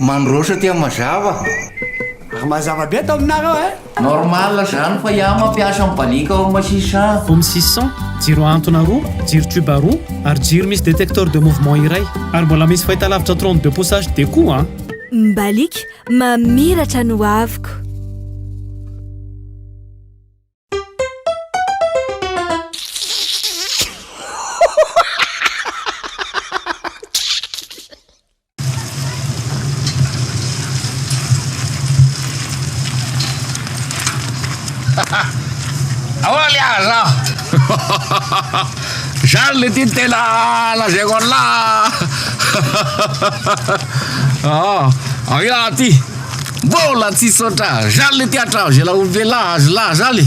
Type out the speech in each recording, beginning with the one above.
Mandroso aty mazava. Ary mazava be ato aminareo eh. Normal zany fa iah mampiasa ny balika ao masisy an. Home six cent, jiro ahantona roa, jiro tube roa, ary jiro misy detecteur de mouvement iray. Ary mbola misy fahitalavitra trente deux pouces HD koa an. Ny balika mamiratra ny hoaviko. Ahoana le aza? Zany le tiany tena lazaiko an'lah. Ah, aia aty. Mbola tsy saotra. Zany le tiatra zay la ombela azy lah zany.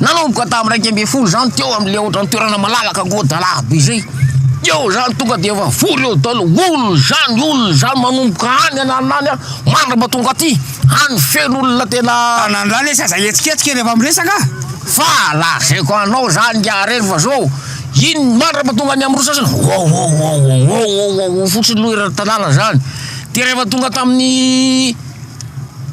Nanomboka tamin'ny iraika ambin'ny folo izany teo amin'ilay ohatran'ny toerana malalaka goa-dalahaba be izay. Teo izany tonga dia efa vory eo daholo, olona izany, olona izany, manomboka any an'alina any mandrapa tonga aty, any feno olona tena. Anandrana izy aza hihetsiketsika rehefa miresaka a! Fa lazaiko anao izany nge ary eny fa zao, iny mandrapa tonga any amin'ny rosas iny, wawawawawawawawaw fotsiny aloha eran'ny tanàna izany, dia rehefa tonga tamin'ny.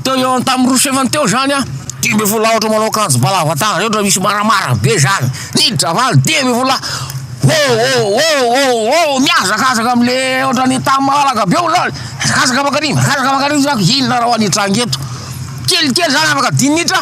Teo ihaony tamin'ny roa sefany teo izany an, dimy ambin'ny folo lahy ohatra manao akanjo ba lava tanana ireny ohatra misy maramara be izany, niditra valo dimy ambin'ny folo lahy, Ho oh oh oh oh, mihazakazaka amin'le ohatra ny tamin'ny maha alaka be olona azy, mihazakazaka mankany, mihazakazaka mankany, inona ary ho any hitranga eto, kelikely izany afaka dimy minitra.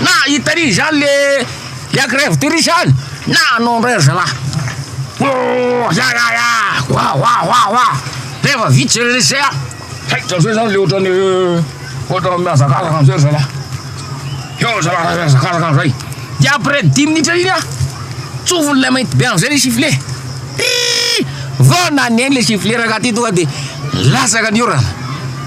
Na hitan'i zany le la grève de riz any na anao ndray ry zalahy oh ya ya ya wa wa wa wa rehefa vita zay rehetra zay an hay zany zany le ohatran'ny ohatran'ny mihazakazaka amizay ry zalahy eo ry zalahy raha mihazakazaka amizay de après dimy minitra iny an tsofin'ilay mainty be amizay le sifflet ih vao naneno le sifflet rangaha ty tonga de latsaka ny orana.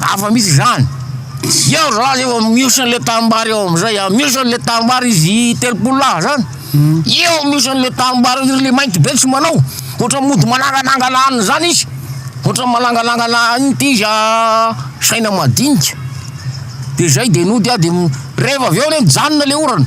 Afa misy izany. Tsy eo za zay vao mihoson le tanimbary eo amizay a, mihoson le tanimbary izy telopolo lahy zany, eo mihoson le tanimbary eo, le mainty be tsy manao, ohatra mody mananganangana aniny zany izy, ohatra mananganangana aniny ty izy a, saina madinika, de zay de nody a de rehefa avy eo anie mijanona le orana.